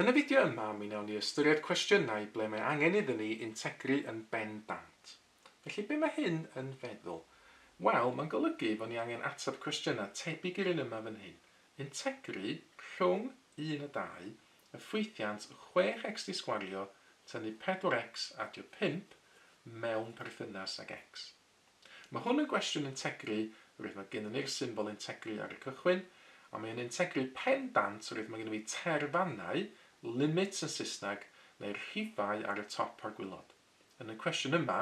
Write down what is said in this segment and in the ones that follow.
Yn y fideo yma mi wnawn ni ystyried cwestiynau ble mae angen iddyn ni integru yn bendant. Felly be mae hyn yn feddwl? Wel, mae'n golygu fod ni angen ateb cwestiynau tebyg i'r un yma fan hyn, integru rhwng, un a dau, y ffwythiant chwech x di sgwario tynnu pedwar x adio pump mewn perthynas ag x. Mae hwn yn gwestiwn integri roedd mae gennyn ni'r symbol integri ar y cychwyn, a mae o'n integri pen dant roedd mae gennyn fi terfannau, limits yn Saesneg, neu'r rhifau ar y top a'r gwilod. Yn y cwestiwn yma,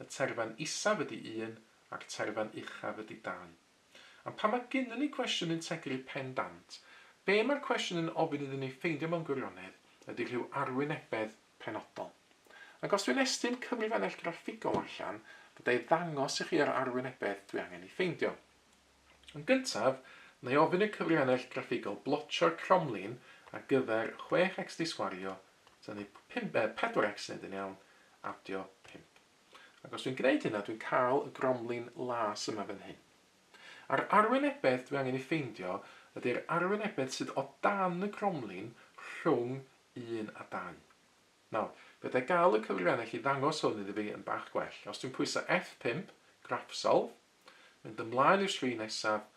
y terfan isaf ydi un a'r terfan uchaf ydi dau. Am pam mae gennyn ni gwestiwn integri pen dant? Be mae'r cwestiwn yn ofyn iddyn ni ffeindio mewn gwirionedd ydi rhyw arwynebedd penodol. Ac os dwi'n estyn cyfrifennell graffigol allan, fydda i ddangos i chi yr arwynebedd dwi angen ei ffeindio. Yn gyntaf, na i ofyn i'r cyfrifennell graffigol blotio'r cromlin ar gyfer 6x disgwario, tynnu 4x wneud yn iawn, adio 5. Ac os dwi'n gwneud hynna, dwi'n cael y gromlin las yma fan hyn. A'r arwynebedd dwi angen ei ffeindio ydi'r arwynebedd sydd o dan y cromlin rhwng un a dau. Nawr, fedrai gael y cyfrifennell i ddangos hwn iddi fi yn bach gwell. Os dwi'n pwyso F pump, Graph Solve, mynd ymlaen i'r sgrin nesaf,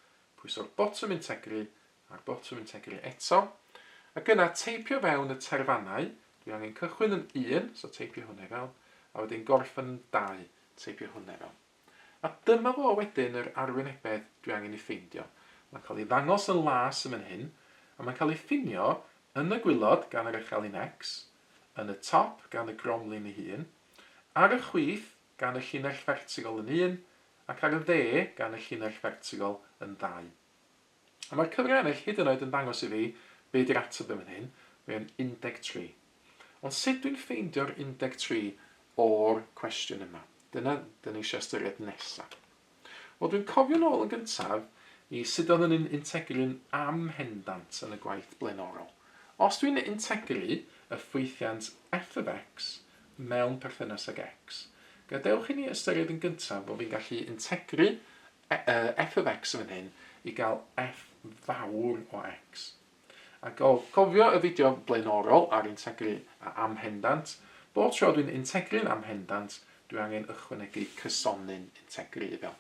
pwyso'r botwm integri a'r botwm integri eto, ac yna teipio fewn y terfannau, dwi angen cychwyn yn un, so teipio hwnna i fewn, a wedyn gorffen yn dau, teipio hwnna i fewn. A dyma fo wedyn yr arwynebedd dwi angen ei ffeindio. Mae'n cael ei ddangos yn las yn fan hyn, a mae'n cael ei ffinio yn y gwilod gan yr echelin X, yn y top gan y gromlin ei hun, ar y chwith gan y llinell fertigol yn un, ac ar y dde gan y llinell fertigol yn ddau. A mae'r cyfrif ennill hyd yn oed yn dangos i fi be di'r ateb yn fan hyn, mae o'n 13. Ond sut dwi'n ffeindio'r 13 o'r cwestiwn yma? Dyna dyn ni eisiau ystyried nesaf. Wel, dwi'n cofio nôl yn gyntaf i sut oedden ni'n integru'n amhendant yn y gwaith blaenorol. Os dwi'n integru y ffwythiant f of x mewn perthynas ag x, gadewch i ni ystyried yn gyntaf bod fi'n gallu integru F of x yn fan hyn i gael f fawr o x. A gofio y fideo blaenorol ar integru a amhendant, bob tro dwi'n integru'n amhendant, dwi angen ychwanegu cysonyn integru iddo.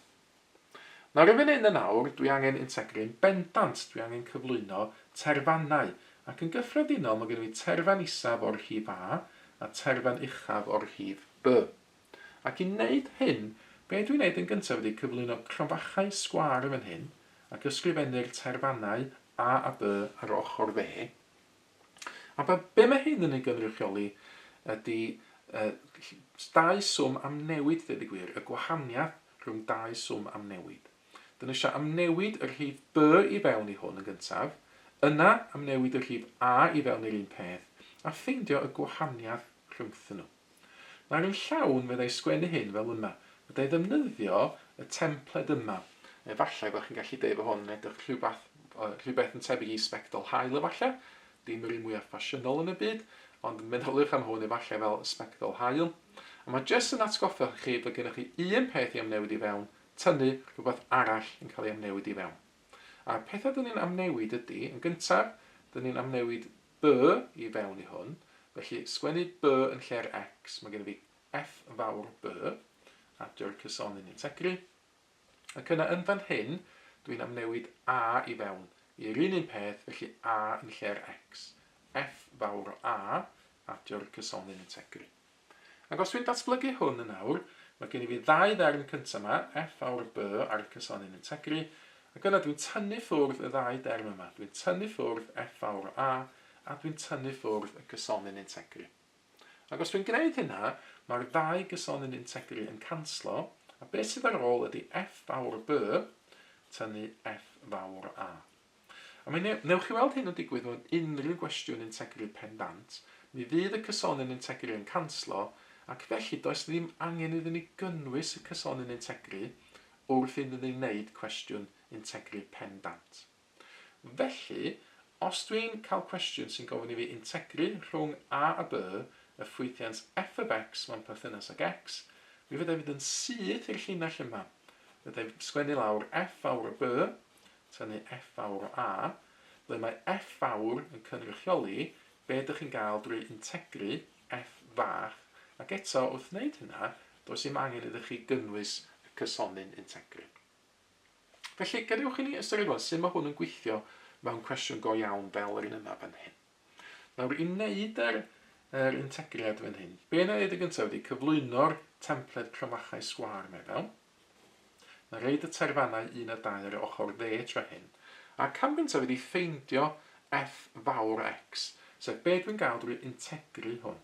Nawr yn fan hyn yn awr, dwi angen integru'n bendant, dwi angen cyflwyno terfannau, ac yn gyffredinol mae gen i terfan isaf o'r rhif a a terfan uchaf o'r rhif b. Ac i wneud hyn, be dwi'n wneud yn gyntaf ydy cyflwyno cronfachau sgwâr yn fan hyn, ac ysgrifennu'r tair fannau A a B ar yr ochr dde. A be, be mae hyn yn ei gynrychioli ydy uh, dau swm am newid, dweud y gwir, y gwahaniaeth rhwng dau swm am newid. Dyn ni eisiau amnewid y rhif B i fewn i hwn yn gyntaf, yna amnewid y rhif A i fewn i'r un peth, a ffeindio y gwahaniaeth rhwngthyn nhw. Mae angen llawn, meddai sgwennu hyn fel yma. Meddai ddefnyddio y templed yma. Efallai bod chi'n gallu deud bod hwn yn edrych rhywbeth, rhywbeth yn tebyg i sbectol haul efallai, dim yr un mwyaf ffasiynol yn y byd, ond meddyliwch am hwn efallai fel sbectol haul. A mae jyst yn atgoffa chi bod gennych chi un peth i amnewid i fewn, tynnu rhywbeth arall yn cael ei amnewid i fewn. A'r pethau dyn ni'n amnewid ydy, yn gyntaf, dyn ni'n amnewid By i fewn i hwn, felly sgwennu by yn lle'r x, mae gennyf fi F fawr by, adio'r cysonyn yn tegru, ac yna yn fan hyn dwi'n amnewid a i fewn i'r un un peth, felly a yn lle'r x, F fawr o a, adio'r cysonyn yn tegru. Ac os dwi'n datblygu hwn yn awr, mae gen i fi ddau ddarn cynta yma, F awr B ar y cysonyn yn tegru, ac yna dwi'n tynnu ffwrdd y ddau derm yma, dwi'n tynnu ffwrdd F awr A, a dwi'n tynnu ffwrdd y cysonyn yn tegru. Ac os dwi'n gwneud hynna, mae'r ddau gysonyn yn tegru yn canslo, a beth sydd ar ôl ydy F fawr B tynnu F fawr A. A mi wnewch chi weld hyn yn digwydd mewn unrhyw gwestiwn integrity pendant, mi fydd y cysonyn integrity yn canslo ac felly does ddim angen iddyn ni gynnwys y cysonyn integrity wrth iddyn ni wneud cwestiwn integrity pendant. Felly, os dwi'n cael cwestiwn sy'n gofyn i fi integru rhwng a a b y ffwythiant f of x mewn perthynas ag x, mi fydda i fynd yn syth i'r llinell yma. Fydda i'n sgwennu lawr f fawr o b, tynnu F fawr o A, ble mae F fawr yn cynrychioli be ydych chi'n gael drwy integru F fach, ac eto, wrth wneud hynna, does dim angen iddo chi gynnwys y cysonyn integru. Felly, gadewch i ni ystyried rwan sut mae hwn yn gweithio mewn cwestiwn go iawn fel yr un yma fan hyn. Nawr, i wneud yr, yr integriad fan hyn, be na wneud yn gyntaf ydy cyflwyno'r templed cromachau sgwâr mae fewn. Mae rhaid y taerfannau un a dau ar yr ochr dde tra hyn, a'r canfyntaf ydi ffeindio F fawr X, sef be dwi'n gael drwy integru hwn.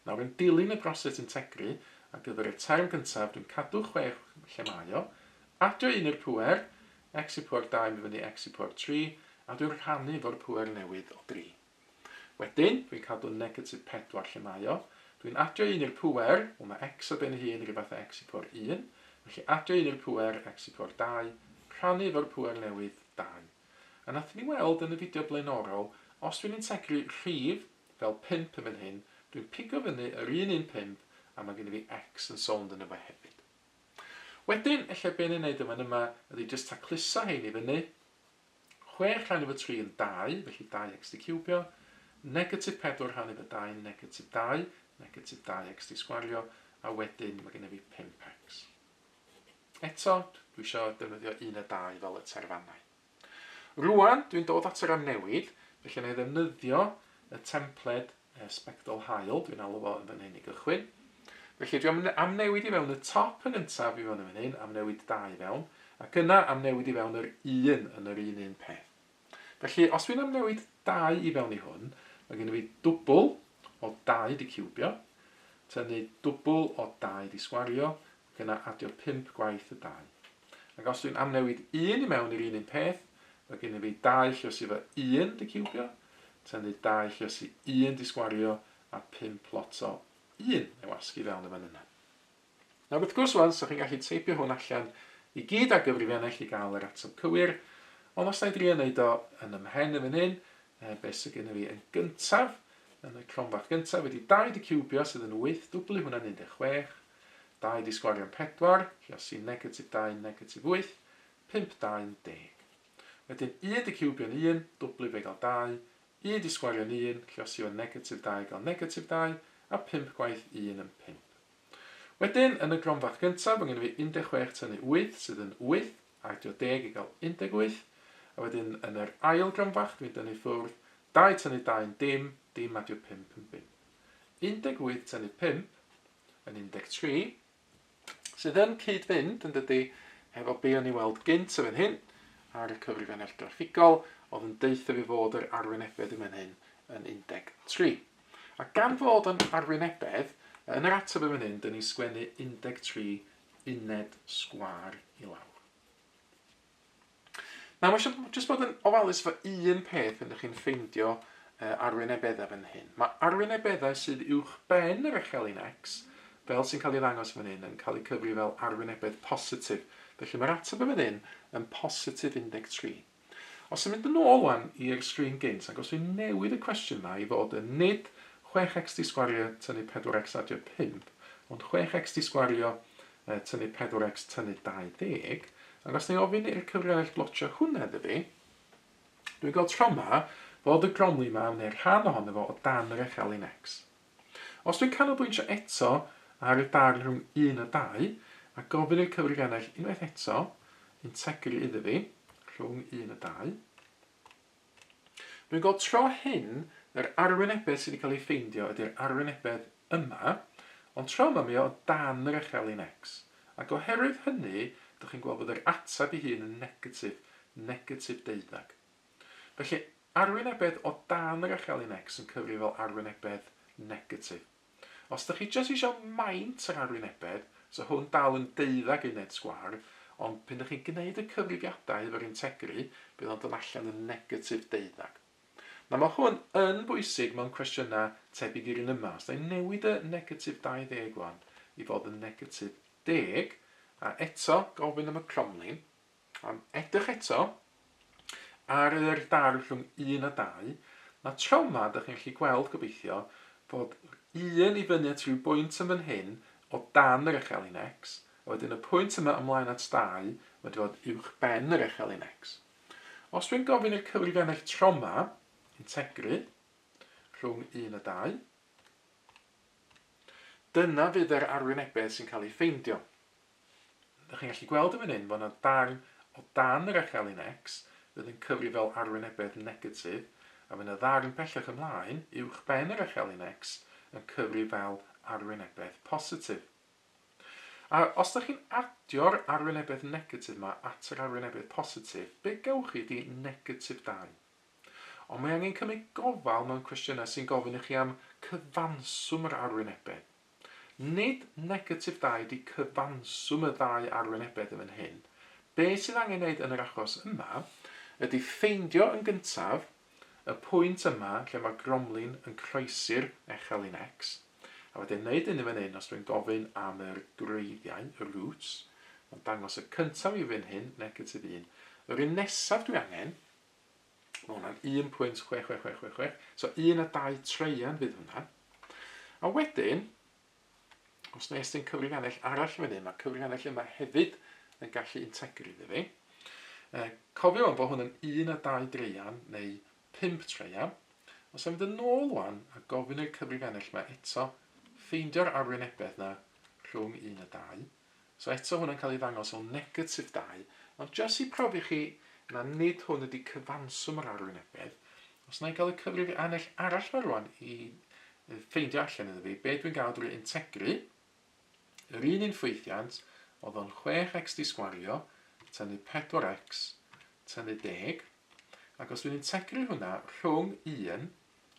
Nawr yn dilyn y broses integru, ar gyfer y term gyntaf dwi'n cadw chwech lle mae o, adio un i'r pŵer, x i pŵer dau yn mynd fyny x i pŵer tri, a dwi'n rhannu efo'r pŵer newydd o dri. Wedyn, dwi'n cadw negatif 4 lle mae o. Dwi'n adio 1 i'r pŵer, wel mae x o ben ei hun rhyw fath â x i pŵer 1, felly adio 1 i'r pŵer, x i pŵer 2, rhannu efo'r pŵer newydd, 2. A wnaethon ni weld yn y fideo blaenorol, os dwi'n integru rhif, fel 5 yn fan hyn, dwi'n pigo fyny yr un un 5, a mae gen i fi x yn sownd yno fo hefyd. Wedyn, ella be ni'n neud yn fan yma ydy jyst tacluso hein i fyny, Chwech rhan efo tri yn dau, felly dau xt ciwbio, negatif pedwar rhan efo dau yn negatif dau, negatif dau xt sgwario, a wedyn mae gennyf fi pump xt. Eto, dwi isio defnyddio un a dau fel y terfannau. Rŵan, dwi'n dod at y ran newid, felly na i ddefnyddio y templed y sbectol haul dwi'n alw fo yn fan hyn i gychwyn. Felly dwi am, am newid i fewn y top yn gyntaf i fewn yn fan hyn, am newid dau i fewn, ac yna am newid i fewn yr un yn yr un un peth. Felly os dwi'n am newid dau i fewn i hwn, mae gen i fi dwbl o dau di ciwbio, tynnu dwbl o dau di sgwario, Yna adio pump gwaith y dau. Ac os dwi'n amnewid un i mewn i'r un un peth, mae gennym fi dau llysi efo un digiwbio, tynnu dau llysi un disgwario, a pump plot o un ei wasgu i fewn y fan yna. Nawr wrth gwrs wan, so chi'n gallu teipio hwn allan i gyd ar gyfrifiannau chi gael yr ateb cywir, ond os na i drio wneud o yn y mhen yn fan hyn, e, beth sydd gennym fi yn gyntaf, yn y cronfarth gyntaf, wedi dau digiwbio sydd yn wyth, dwblu hwnna'n 16, Dau di sgwario pedwar, lle os i negatif dau yn negatif wyth, pump dau yn deg. Wedyn un di ciwbio'n un, dwblu fe i gael dau, un di sgwario'n un, lle os i o negatif dau gael negatif dau, a pump gwaith un yn pump. Wedyn, yn y gronfath gyntaf, mae gen i fi 16 tynnu wyth, sydd yn wyth, a adio deg i gael 18, a wedyn yn yr ail gronfach, dwi'n dynnu ffwrdd, dau tynnu dau yn dim, dim adio pump yn bump. 18 tynnu pump, yn 13, sydd yn cyd-fynd, yn dydy, hefo be o'n i weld gynt yn fan hyn, ar y cyfrifennaeth graffigol, oedd yn deutha fi fod yr arwynebedd yn fan hyn yn 13. A gan fod yn arwynebedd, yn yr ateb yn fan hyn, dyn ni'n sgwennu 13 uned sgwâr i lawr. Nawr mae eisiau jyst bod yn ofalus efo un peth pan ydych chi'n ffeindio uh, arwynebeddau fan hyn. Mae arwynebeddau sydd uwch ben yr echelin X, fel sy'n cael ei ddangos fan hyn, yn cael eu cyfri fel arwynebedd positif. Felly mae'r ateb yn fan hyn yn positif 13. Os yn mynd yn ôl wan i'r sgrin gynt, ac os dwi'n newid y cwestiwn yma i fod yn nid 6x di sgwario tynnu 4x adio 5, ond 6x di sgwario yy tynnu 4x tynnu 20, ac os nai ofyn i'r cyfraniad blotio hwnna iddo fi, dwi'n gweld tro 'ma fod y gromlin 'ma, neu rhan ohono fo, o dan yr erthelyn X. Os dwi'n canolbwyntio eto ar y darn rhwng 1 a 2, a gofyn i'r cyfraniad unwaith eto integru iddo fi, rhwng 1 a 2, Dwi'n gweld tro hyn yr arwynebedd sydd wedi cael ei ffeindio ydy'r arwynebedd yma, ond tro yma mae o o dan yr echelin X, ac oherwydd hynny dych chi'n gweld bod yr ateb ei hun yn negatif, negatif deuddeg. Felly, arwynebedd o dan yr echelin X yn cyfri fel arwynebedd negatif. Os dych chi jyst isio maint yr arwynebedd, so hwn dal yn deuddag uned sgwâr, ond pan dych chi'n gwneud y cyfrifiadau efo'r integri, bydd o'n dod allan yn negatif deuddag. Nawr mae hwn yn bwysig mewn cwestiynau tebyg i'r un yma. Os da ni'n newid y negatif 20 wan i fod yn negatif deg, a eto gofyn am y cromlin, Am edrych eto ar yr darn rhwng un a dau, mae trawma, dych chi'n gallu gweld, gobeithio, fod un i fyny at ryw bwynt yn fan hyn o dan yr echelin X, a wedyn y pwynt yma ymlaen at dau wedi fod uwch ben yr echelin X. Os dwi'n gofyn i'r cyfrifennau trawma integru rhwng un a dau, dyna fydd yr arwynebedd sy'n cael ei ffeindio. Dych chi'n gallu gweld yn fan hyn fod yna darn o dan yr echelin X fydd yn cyfri fel arwynebedd negatif, a fydd yna ddarn pellach ymlaen, uwch ben yr echelin X, yn cyfri fel arwynebedd positif. A os ydych chi'n adio'r arwynebedd negatif yma at yr arwynebedd positif, be gewch chi ydi negatif 2. Ond mae angen cymryd gofal mewn cwestiynau sy'n gofyn i chi am cyfanswm yr arwynebedd. Nid negatif da ydi cyfanswm y ddau arwynebedd yn fan hyn. Be sydd angen neud yn yr achos yma ydi ffeindio yn gyntaf y pwynt yma lle mae gromlin yn croesi'r echelin X, a wedyn neud hyn yn fan hyn os dwi'n gofyn am yr gwreiddiau, y roots, mae'n dangos y cyntaf i fan hyn, negatif un. Yr un nesaf dwi angen Mae hwnna'n 1.66666. So un a dau treian fydd hwnna. A wedyn, os nes ti'n cyfrifiannell arall fan hyn, mae cyfrifiannell yma hefyd yn gallu integru iddi fi. E, cofio o'n bod hwn yn un a dau dreian neu pimp treian. Os am fynd yn ôl wan a gofyn i'r cyfrifiannell yma eto, ffeindio'r arwynebedd yna rhwng un a dau. So eto hwn yn cael ei ddangos fel negatif dau, ond jyst i profi chi na nid hwn ydi cyfanswm yr arwynebedd, os na i gael y cyfrif annell arall ma rwan i ffeindio allan iddo fi, be dwi'n gael drwy integru, yr un un ffwythiant, oedd o'n 6x di sgwario, tynnu 4x, tynnu deg, ac os dwi'n integru hwnna rhwng 1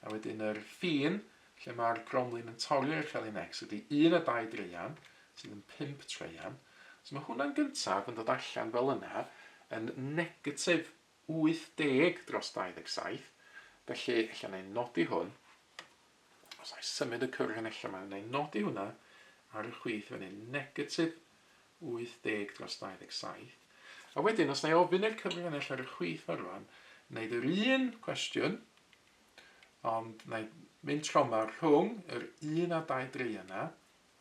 A wedyn yr ffin lle mae'r gromlin yn torri i'r celyn X ydy 1 a 2 draean, sydd yn 5 traean. So mae hwnna'n gyntaf yn dod allan fel yna, yn negatif 80 dros 27. Felly, ella na i nodi hwn. Os na i symud y cyrch yn ella, mae na i nodi hwnna ar y chwith fan hyn, negatif 80 dros 27, a wedyn os na i ofyn i'r cyfrannell ar y chwith fo rwan, wneud yr un cwestiwn, ond na i mynd troma rhwng yr un a dau dri yna,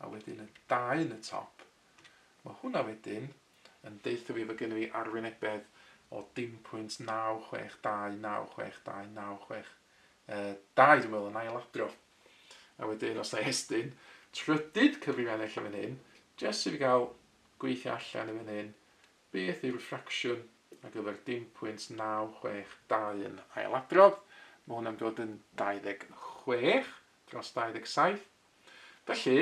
a wedyn y dau yn y top, mae hwnna wedyn yn deutho fi fod gennym fi arwynebedd o dim pwynt 962, 962, uh, dau dwi'n meddwl yn ail adrodd. A wedyn, os na i estyn, trydydd cyfrifennell yn fan hyn, jyst i fi gael gweithio allan yn fan hyn, beth yw'r ffracsiwn ar gyfer 10.962 yn ailadrodd. Mae hwnna'n dod yn 26 dros 27. Felly,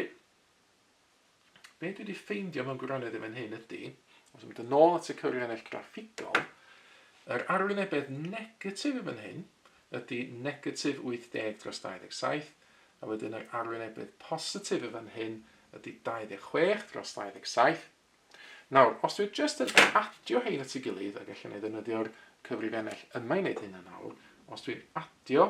be dwi wedi ffeindio mewn gwirionedd yn fan hyn ydy, os yn mynd yn ôl at y cyfrifennaeth graffigol, yr arwynebedd negatif yn fan hyn ydy negatif 80 dros 27, a wedyn yr arwynebedd positif yn fan hyn ydy 26 dros 27. Nawr, os dwi'n just yn adio hein at ei gilydd, ac allan ei ddefnyddio'r cyfrifennell yma i wneud hyn yn awr, os dwi'n adio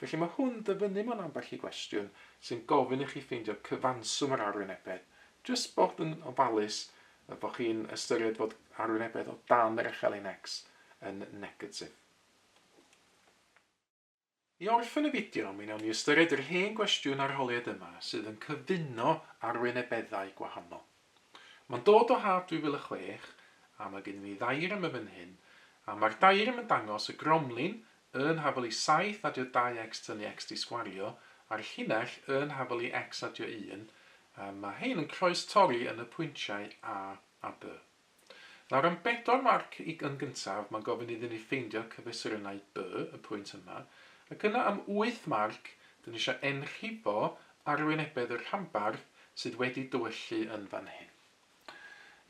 Felly mae hwn dyfynnu mewn ambell i gwestiwn sy'n gofyn i chi ffeindio cyfanswm yr arwynebedd, jyst bod yn ofalus y bod chi'n ystyried fod arwynebedd o dan yr echelin-X yn negatif. I orffen y fideo, mi wnawn ni ystyried yr hen gwestiwn arholiad yma sydd yn cyfuno arwynebeddau gwahanol. Mae'n dod o haf 2006 a mae gennym ni ddaearym yn fan hyn a mae'r daearym yn dangos y gromlin yn hafelu saith adio dau x tynnu x di sgwario a'r llinell yn hafelu x adio un a mae hein yn croes torri yn y pwyntiau A a B. Nawr am bedwar marc i yn gyntaf, mae'n gofyn iddyn ni ffeindio cyfesurynau by y pwynt yma, ac yna am wyth marc, dyn ni eisiau enrhibo arwynebedd y rhanbarth sydd wedi dywyllu yn fan hyn.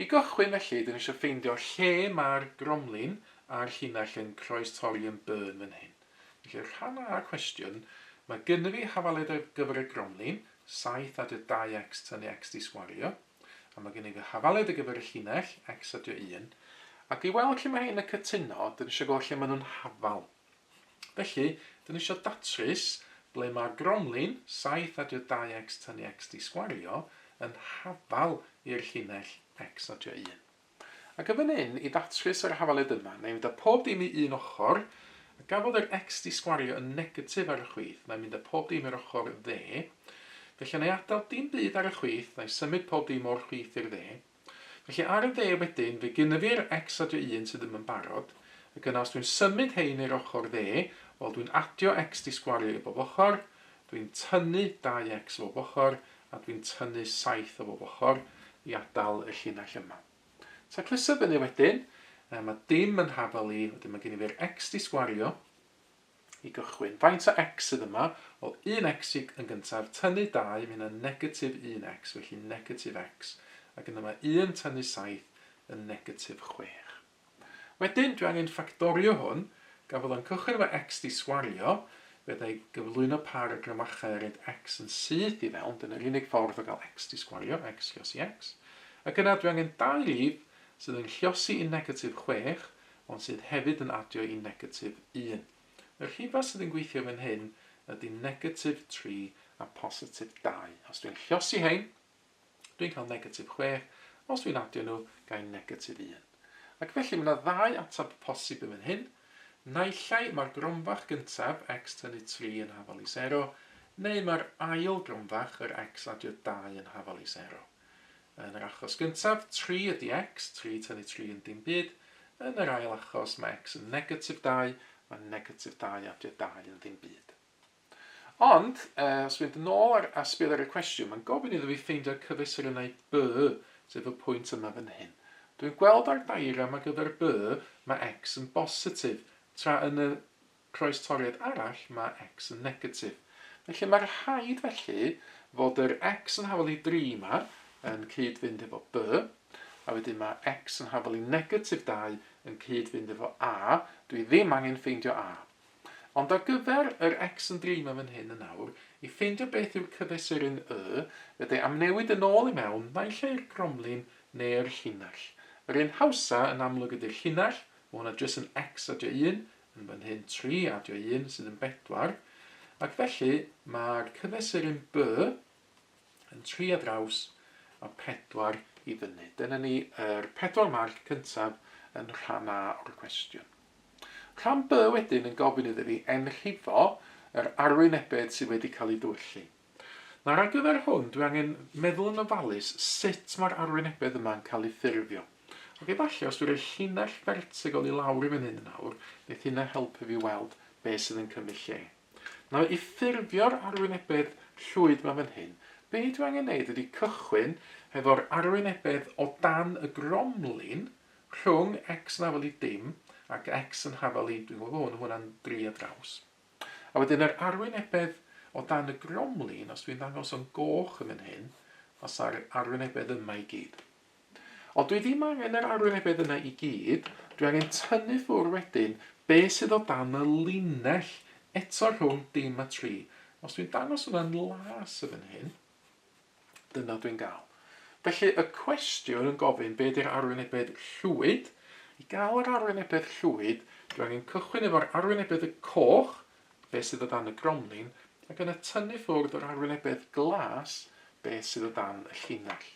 I gychwyn felly, dyn ni eisiau ffeindio lle mae'r gromlin a'r llinell yn croestorri yn by yn fan hyn. Felly rhan A y cwestiwn, mae gynnyf i hafaledd ar gyfer y gromlin, 7 added 2x tynnu x di sgwario, A mae gennyf y hafaliad ar gyfer y llinell, X a dwy un, ac i weld lle mae rhein yn cytuno, dyn ni eisiau gweld lle maen nhw'n hafal. Felly, dyn ni eisiau datrys ble mae'r gromlin, saith a dwy dau X tynnu X di sgwario, yn hafal i'r llinell, X a dwy un. Ac yn fan hyn, i ddatchus yr hafaled yma, na i fynd â pob dim i un ochr, a gafodd yr X di sgwario yn negatif ar y chwith, na i mynd â pob dim i'r ochr dde, felly na i adael dim byd ar y chwith, na i symud pob dim o'r chwith i'r dde. Felly ar y dde wedyn, fe gynna fi'r X adio un sydd ddim yn barod, ac yna os dwi'n symud hein i'r ochr dde, wel dwi'n adio X di sgwario i bob ochr, Dwi'n tynnu dau X o bob ochr a dwi'n tynnu saith o bob ochr i adal y llinell yma. Ta clustio fyny wedyn, yy ma' dim yn hafal i, wedyn ma' gen i fi'r X di sgwario i gychwyn. Faint o X sydd yma? Wel un X i yn gyntaf, tynnu dau, ma' hynna'n negatif un X, felly negatif X, ac yna ma' un tynnu saith yn negatif chwech. Wedyn, dwi angen ffactorio hwn, gan fod o'n cychwyn efo X 'di sgwario, fe alla i gyflwyno pâr o gramachau a roid X yn syth i fewn, dyna'r unig ffordd o gael X 'di sgwario, X llosi X. Ac yna, dwi angen dau rif sydd yn llosi i negatif chwech, ond sydd hefyd yn adio i negatif un. Y rhifau sydd yn gweithio fan hyn ydy negatif tri a positif dau. Os dwi'n llosi hein, Dwi'n cael negatif chwech, os dwi'n adio nhw, ga i'n negatif un. Ac felly mae yna ddau ateb posib yn fan hyn, naillai mae'r gromfach gyntaf, x tynnu tri yn hafal i sero, neu mae'r ail gromfach, yr x adio dau yn hafal i sero. Yn yr achos gyntaf, tri ydi x, tri tynnu tri yn dim byd, yn yr ail achos mae x yn negatif dau, mae negatif dau adio dau yn ddim byd. Ond, os mynd yn ôl ar asbl ar y cwestiwn, mae'n gofyn iddo fi ffeindio cyfesurynnau by, sef y pwynt yma fan hyn. Dwi'n gweld ar diagram ar gyfer by, mae x yn bositif, tra yn y croestoriad arall mae x yn negatif. Felly mae rhaid felly fod yr x yn hafal i 3 yma yn cyd-fynd efo by, a wedyn mae x yn hafal i negatif 2 yn cyd-fynd efo a, dwi ddim angen ffeindio a. Ond ar gyfer yr X yn dreimio fan hyn yn awr, i ffeindio beth yw'r cyfesuryn Y, fe de amnewid yn ôl i mewn, naill ai'r gromlin neu'r llinell. Yr un hawsa yn amlwg ydy'r llinell, mae hwnna jyst yn X adio un, yn fan hyn tri adio un sydd yn bedwar, ac felly mae'r cyfesuryn By yn tri ar draws a pedwar i fyny. Dyna ni yr pedwar marc cyntaf yn rhan A o'r cwestiwn. Rhan B wedyn yn gofyn iddo fi enrhifo yr arwynebedd sydd wedi cael ei ddiwyllu. Nawr ar gyfer hwn dwi angen meddwl yn ofalus sut mae'r arwynebedd yma yn cael ei ffurfio. Ac efallai os dwi roi llinell fertigol i lawr i fan hyn nawr, neith hynna helpu fi weld be sydd yn cymryd lle. Nawr i ffurfio'r arwynebedd llwyd ma fan hyn, be dwi angen neud ydi cychwyn hefo'r arwynebedd o dan y gromlin, Rhwng X yn hafal i dim ac X yn hafal i dwi'n gwybod bo hwn, ma hwnna'n dri ar draws. A wedyn yr arwynebedd o dan y gromlin, os dwi'n ddangos o'n goch yn fan hyn, fasa'r arwynebedd yma i gyd. Ond dwi ddim angen yr arwynebedd yna i gyd, dwi angen tynnu ffwr wedyn be sydd o dan y linell eto rhwng dim a tri. Os dwi'n dangos hwnna'n las yn fan hyn, Dyna dwi'n gael. Felly y cwestiwn yn gofyn be di'r arwynebedd llwyd. I gael yr arwynebedd llwyd, dwi angen cychwyn efo'r arwynebedd y coch, be sydd o dan y gromlin, ac yna tynnu ffwrdd yr arwynebedd glas, be sydd o dan y llinell.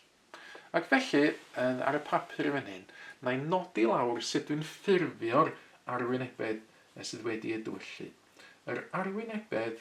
Ac felly, yn ar y papur yn fan hyn, na i nodi lawr sut dwi'n ffurfio'r arwynebedd sydd wedi ei dywyllu. Yr arwynebedd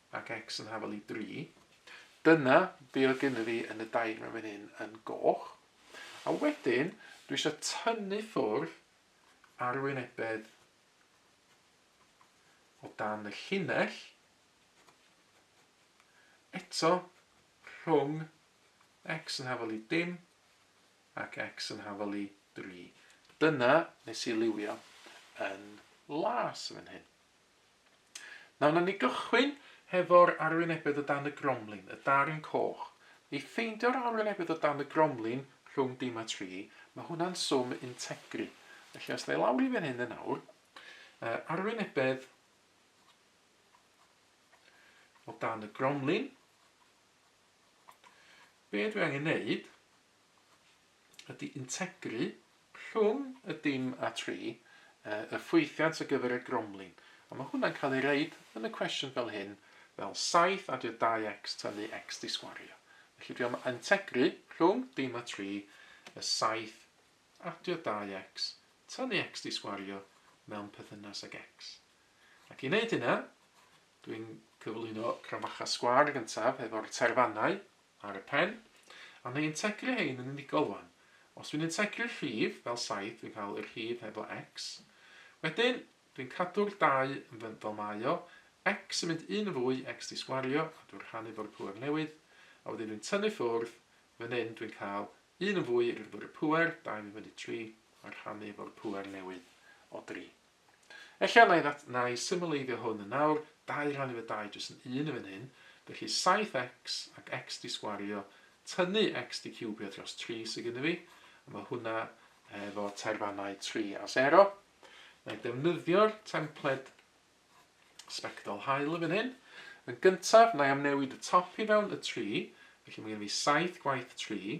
Ac X yn hafal i dri. Dyna be oedd gynna fi yn y dair mewn fan hyn yn goch. A wedyn, dwi eisiau tynnu ffwrdd arwynebedd o dan y llinell, eto rhwng x yn hafal i dim ac x yn hafal i 3. Dyna nes i liwio yn las yn fan hyn. Nawr wnawn ni gychwyn hefo'r arwynebedd o dan y gromlin, y darn coch. I ffeindio'r arwynebedd o dan y gromlin rhwng dim a tri, mae hwnna'n swm integri. Felly os wnai lawr i fan hyn yn awr, yy arwynebedd o dan y gromlin, be dwi angen neud ydy integru rhwng y dim a tri, yy, y ffwythiant ar gyfer y gromlin. A mae hwnna'n cael ei reid yn y cwestiwn fel hyn, fel 7 adio 2x tynnu x di sgwario. Felly dwi am integru rhwng dim a tri, y 7 adio 2x tynnu x di sgwario mewn perthynas ag x. Ac i wneud hynna, dwi'n cyflwyno crafachau sgwar gyntaf efo'r terfannau Ar y pen. A wnei integru hein yn unigol wan. Os dwi'n integru'r rhif, fel 7, dwi'n cael y rhif heblo x. Wedyn, dwi'n cadw'r 2 yn fy fel mae o, x yn mynd un yn fwy, x 'di sgwario, a dwi'n rhannu fo'r pŵer newydd, a wedyn dwi'n tynnu ffwrdd, fan hyn dwi'n cael 1 yn fwy rydw yr y pŵer, 2 yn mynd fyny 3, a rhannu fo'r pŵer newydd o 3. Ella na i ddat- na i symleiddio hwn yn awr, dau rhannu fy dau jyst yn un yn fan hyn, felly saith x ac x di sgwario, tynnu x di ciwbio dros tri sy gynno fi, a ma hwnna efo taerfannau tri a sero. Na i defnyddio'r templed sbectol haul yn fan hyn. Yn gyntaf, na i amnewid y top i fewn, y tri, felly mae gen fi saith gwaith tri,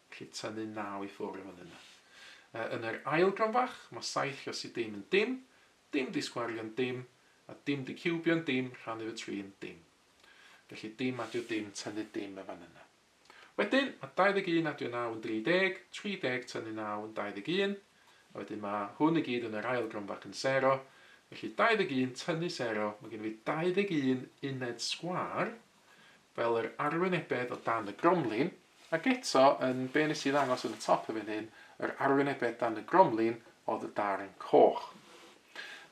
Rhydd tynnu naw i ffwrdd yn yna. Yn yr ail gam fach, mae saith rhasi dim yn dim, dim disgwario'n dim, a dim diciwbio'n dim rhannu fy tri yn dim. Felly dim adio dim tynnu dim yn fan yna. Wedyn, mae 21 adio naw yn 30, 30 tynnu naw yn 21, a wedyn mae hwn i gyd yn yr ail gam fach yn sero, felly 21 tynnu sero, mae gennyf fi 21 uned sgwâr, fel yr arwynebedd o dan y gromlin, ac eto, yn be nes i ddangos yn y top yn fan hyn, yr arwynebedd dan y gromlin oedd y darn coch.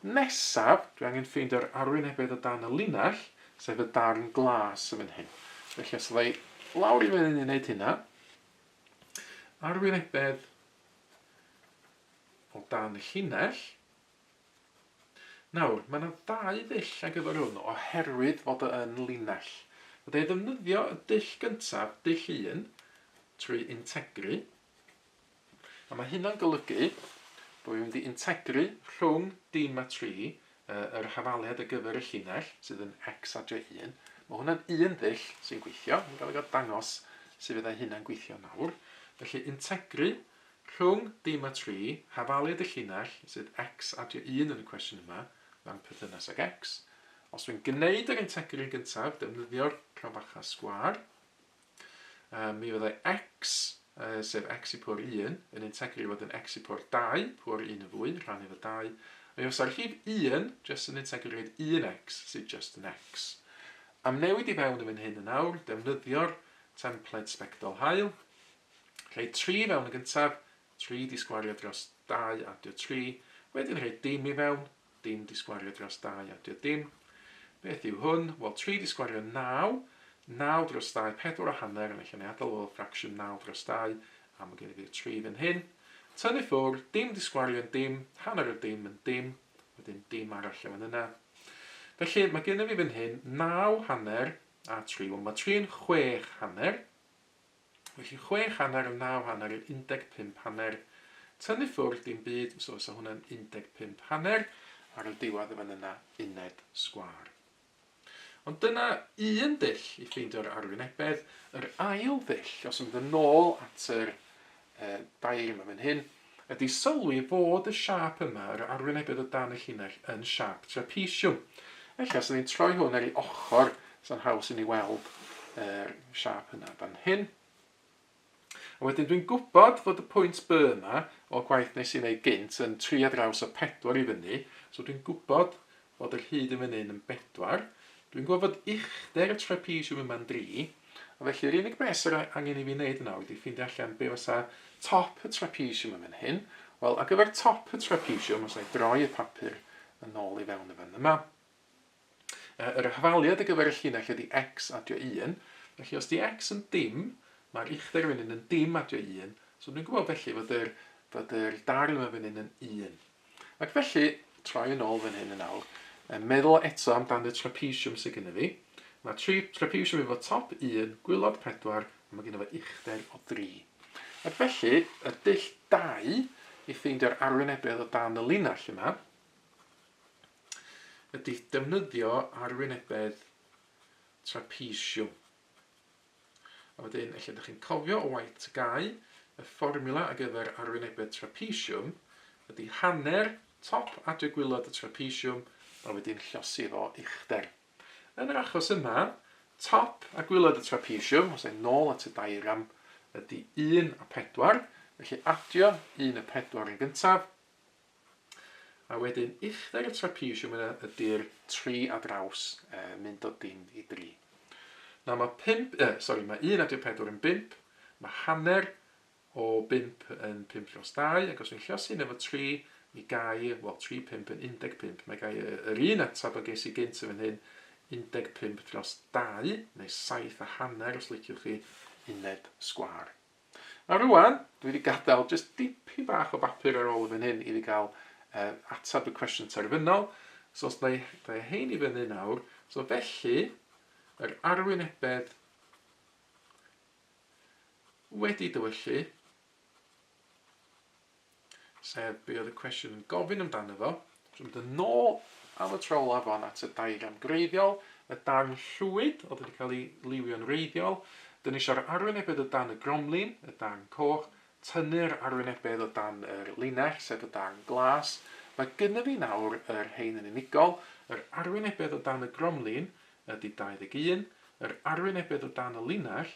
Nesaf, dwi angen ffeindio'r arwynebedd o dan y linell, sef y darn glas yn fan hyn. Felly os ydda i lawr i fyny i wneud hynna, arwynebedd o dan y llinell, Nawr, mae yna ddau ddull ar gyfer hwn oherwydd fod o yn linell. Fydda i'n ddefnyddio y dull gyntaf, dull un, trwy integru, a mae hynna'n golygu bod fi'n mynd i integru rhwng dim a tri yr hafaliad ar gyfer y llinell sydd yn x a j1. Mae hwnna'n un ddull sy'n gweithio, yn cael ei dangos sut fydda hynna'n gweithio nawr. Felly integru Rhwng dim a tri, hafaliad y llinell, sydd X, adio un yn y cwestiwn yma, mewn perthynas ag X. Os dwi'n gwneud yr integr yn gyntaf, defnyddio'r crafachau sgwâr, um, mi fyddai X, uh, sef X i pwr 1, yn integru i fod yn X i pwr 2, pwr 1 yn fwy, rhan efo 2, Mae os ar rhif 1, just yn integru i fod 1X, sydd just yn X. Am newid i fewn yn fan hyn yn awr, defnyddio'r templed sbectol hael, Rhoi tri i fewn yn gyntaf, tri disgwario dros dau adio tri, wedyn rhoi dim i fewn, dim disgwario dros dau adio dim. Beth yw hwn? Wel, tri disgwario naw, naw dros dau, pedwar a hanner, yn eich aniadol o ffracsiwn naw dros dau, a mae gen i fi'r tri fan hyn. Tynnu ffwr, dim disgwario yn dim, hanner o dim yn dim, wedyn dim arall o fan yna. Felly, mae gen i fi fan hyn naw hanner a tri. Wel, mae tri yn chwech hanner, Felly chwech hanner yn naw hanner yn undeg pump hanner. Tynnu ffwrdd dim byd, so fysa hwnna'n undeg pump hanner, ar y diwedd yn fan yna uned sgwâr. Ond dyna un dull i ffeindio'r arwynebedd. Yr ail ddull, os yn mynd yn ôl at yr e, dair yma fan hyn, ydy sylwi fod y siâp yma, yr arwynebedd o dan y llinell, yn siâp trapesiwm. Felly, os ydyn ni'n troi hwn ar ei ochr, sa'n haws i ni weld yr siâp yna fan hyn. A wedyn dwi'n gwybod fod y pwynt B yma, o gwaith nes i wneud gynt, yn tri ar draws o pedwar i fyny, so dwi'n gwybod Bod yr hyd yn fyny'n yn bedwar. Dwi'n gweld fod uchder y trapesiwm yma'n dri, a felly yr unig beth sydd angen i fi wneud nawr ydy ffeindio allan be fysa top y trapesiwm yn fan hyn. Wel, ar gyfer top y trapesiwm, os na'i droi y papur yn ôl i fewn yn fan yma, yy yr hafaliad ar gyfer y llinell ydy x adio un, felly os ydy x yn dim, mae'r uchder yn fyny'n yn dim adio un, so dwi'n gwybod felly fod yr fod yr darn yma'n fyny'n yn un. Ac felly, troi yn ôl fan hyn yn awr, a meddwl eto am dan y trapezium sydd gynno fi. Mae tri trapezium efo top 1, gwylod 4, a mae gynno fo uchder o 3. Ac felly, y dull 2 i ffeindio'r arwynebedd o dan y linell yma, ydy defnyddio arwynebedd trapezium. A wedyn, ella dych chi'n cofio o waith TGAU, y fformiwla ar gyfer arwynebedd trapesiwm ydy hanner top adre gwilod y trapesiwm a wedyn llosir o uchder. Yn yr achos yma, top a gwilod y trapesiwm, os e'n nôl at y diagram, ydy 1 a 4, felly adio 1 a 4 yn gyntaf, A wedyn uchder y trapezium yna ydy'r tri a draws, uh, mynd o dim i dri. Na, mae pimp, uh, sorry, mae un adio pedwar yn bimp, mae hanner o bimp yn pimp llos dau, ac os fi'n llosi yn efo tri, mi gai, wel, tri pimp yn 15, mae gai yr un atab o ges i gynt yn fan hyn, 15 dros 2, neu 7 a hanner os liciwch chi, uned sgwar. Nawr rŵan, dwi wedi gadael jyst dipyn bach o bapur ar ôl yn fan hyn i fi gael uh, atab y cwestiwn terfynol. So os dau, dau hein i fyny nawr, so felly, yr arwynebedd wedi dywyllu sef be oedd y cwestiwn yn gofyn amdano fo. Dwi'n mynd yn ôl am y tro olaf fan at y diagram greiddiol, y darn llwyd oedd wedi cael ei liwio'n reiddiol, dyn ni eisiau'r arwynebedd o dan y gromlin, y darn coch, tynnu'r arwynebedd o dan yr linell, sef y darn glas. Mae gynnydd fi nawr yr rhain yn unigol, yr arwynebedd o dan y gromlin ydy 21, yr arwynebedd o dan y linell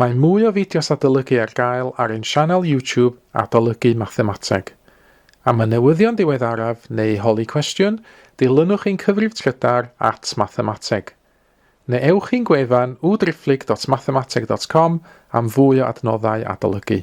Mae mwy o fideos adolygu ar gael ar ein sianel YouTube Adolygu Mathemateg. Am y newyddion diweddaraf neu holi cwestiwn, dilynwch ein cyfrif trydar at Mathemateg. Neu ewch i'n gwefan www.driphlyg.mathemateg.com am fwy o adnoddau adolygu.